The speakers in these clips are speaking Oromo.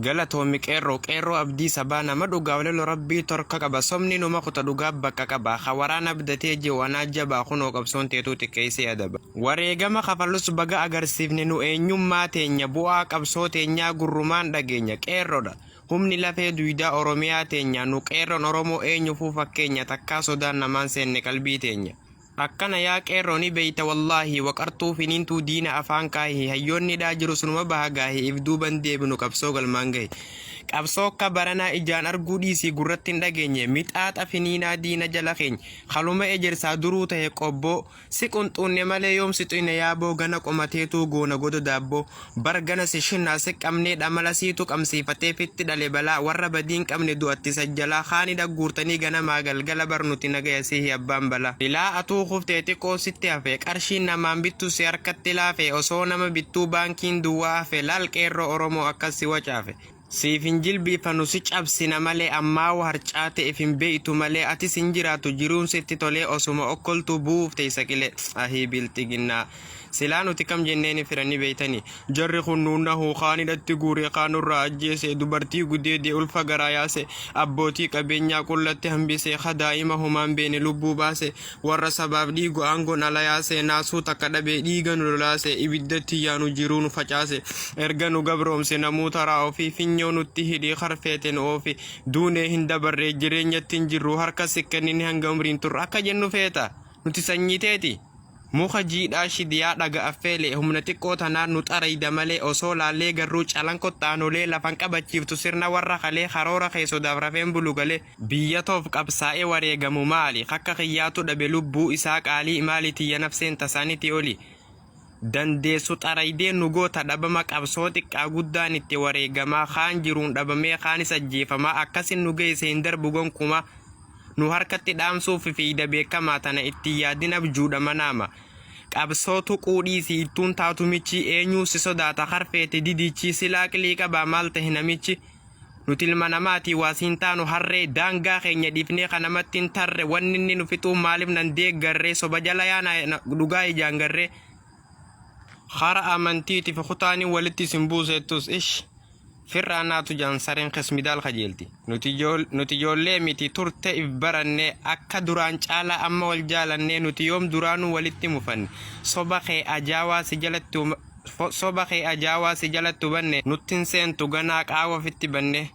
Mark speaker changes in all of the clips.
Speaker 1: Galatoomi qeerroo qeerroo abdii sabaa nama dhugaa walelo rabbii torka qaba somni numa kuta dhugaa bakka qaba ka waraan abdatee ji'u anaa jabaa kunoo qabsoon teetuu xiqqeessee adaba wareegama kafalus baga agarsiifne nu eenyummaa teenya bu'aa qabsoo teenyaa gurrumaan dhageenya qeerrodha humni lafee duydaa oromiyaa teenyaa nu qeerroon oromoo eenyufuu fakkeenya takkaa sodaan namaan seenne qalbii teenya Akkana yaa qeerroo ni beeyta wallahi waqartuu finiintuu diina afaan kaahi hayyoonni hidhaa jirus numa baha gaahi if duuba hin deebinu qabsoo galmaan gahi qabsoo akka baranaa ijaan arguu dhiisii gurratti hin dhageenye mixaaxa finiinaa diina jala keeny haluma ejersaa duruu tahe qobboo si qunxuunne malee yoom si xuyne yaaboo gana qomateetuu goona goda daabboo Bar gana si shinna si qabnee dhamala siitu qabmsiifatee fitti dhale balaa warra badii hin qabne du'atti isa jalaa kaani dhagguurtanii ganamaa galgala bar nuti nagaya sihi abbaan balaa. Ilaa atuu kuftee xiqoo sitti hafe qarshiin namaan bittu si harkatti laafe osoo nama bittuu baankiin duwwaa hafe laal qeerroo oromoo akkas si wacaafe. Siif hin jilbiifanu si cabsina malee ammaawu harcaate if hin beeytu malee atis hin jiraatu jiruun sitti tolee osuma okkoltuu bu'uuf teeysa qilee ahii bilxiginnaa silaa nuti kam jenneeni fira ni beeytani jarri kun nu nahu kaan hidhatti guure kaan nurraa ajjeese dubartii gudeede ulfa garaa yaase abbootii qabeenyaa qullatti hambise ka daa'ima homaan beene lubbuu baase Warra sabaaf dhiigu aangoon ala yaase, naasuu takka dhabe, dhiiga nu lolaase, ibiddatti yaanu jiruu nu facaase. Erga nu gabroomse namuu taraa ofi, finyoo nutti hidhi, kar feete nu oofi. Duunee hin dabarre, jireenyatti hin jirru, harka si kennine hanga umriin turru. Akka jennu feeta? Nuti sanyii teeti? Muka jiidhaa shidi yaa dhaga affeele, humna xiqqoo tanaan nu xarayda malee, osoo laallee garruu calanqotti aanolee, lafan qabachiiftu sirna warra kalee, karoora kee sodaaf rafeen bulu galee. Biyya toof qabsaa'e wareegamu maali kakka kiyyaatu dhabe lubbuu isaa qaalii maali tiyya nafseen tasaaniti oli dandeessu xaraydee nu goota dhabama qabsoo xiqqaa guddaan itti wareegamaa kaan jiruun dhabamee kaanis ajjeefamaa akkasin nu geeyse hin darbu gonkumaa nu harkatti dhaamsuuf fiiyda beekamaa tana itti yaadin abjuudha manaama qabsoo tuquu dhiisi ittuun taatu michii eenyuu si sodaata karfeeti didichi silaa qilii qabaa maal tahe namichi Nuti ilma namaati waa siin taanu harree daangaa keenya dhiifnee ka namatti hin tarre wanni inni nu fixuu maaliif nan deeggarre soba jala yaana dhugaa ijaan garre hara amantiiti fi kutaanii walitti isin buuseettus ish firraa naatu jaan sareen kesmidaal kajeelti nuti ijool- nuti ijoollee miti turte if baranne akka duraan caalaa amma wal jaalannee nuti yoom duraanuu walitti mufanne soba kee ajaawaa si jalatti uma- Soba kee ajaa waa si jalattu banne nutti hin seentu ganaa qaawa ofitti banne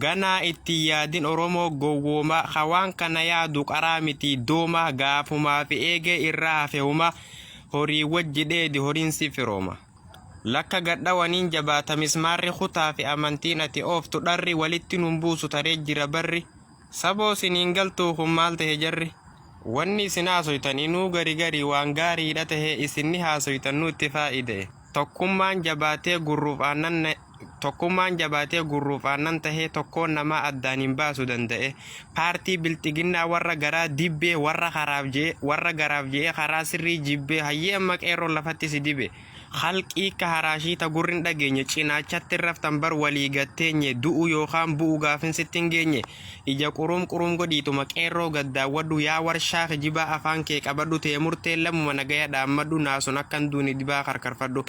Speaker 1: ganaa itti hin yaadin oromoo gowwooma ka waan kana yaadu qaraa miti dooma gaafumaa fi eegee irraa hafe huma horii wajji dheedi horiin si firooma lakka gad dhawaniin jabaata mismaarri kutaa fi amantiin ati ooftu dharri walitti nun buusu taree jira barri Saboo sin hin galtuu kun maal tahe jarri wanni isin haasoytan inuu gari gari waan gaariidha tahe isin ni haasoytan nuutti faayidae tokkummaan jabaatee gurruuf aannan tokkummaan jabaatee gurruuf aannan tahee tokkoon namaa addaan hin baasu dandae paartii bilxiginnaa warra garaa dibbee warra karaaf jee warra garaaf jeee karaa sirrii jibbee hayyee amma qeerroon lafatti si dibe Khalqii ka haraashii ta gurri hin dhageenye cinaachatti hin raftan bar walii gad teenye du'u yookaan bu'u gaafin sitti hin geenye ija quruum quruum godhiituma qeerroo gad daawwadhu yaa warshaa kijibaa afaan kee qabadhu tee murteen lammuma nagaya dhaammadhu naasun akka hin duune dibaa karkarfadhu.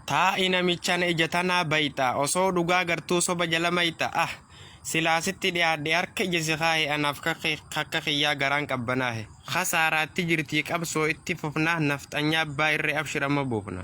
Speaker 1: Taa'i namichana ija tanaa bayxa osoo dhugaa gartuu soba jala mayxa ah. Silaa sitti dhiyaadhe harka ija si kaahe anaaf kakka kiyyaa garaan qabbanaahe. Kasaaraatti jirtii qabsoo itti fufna nafxanyaa abbaa irree abshir amma buufna.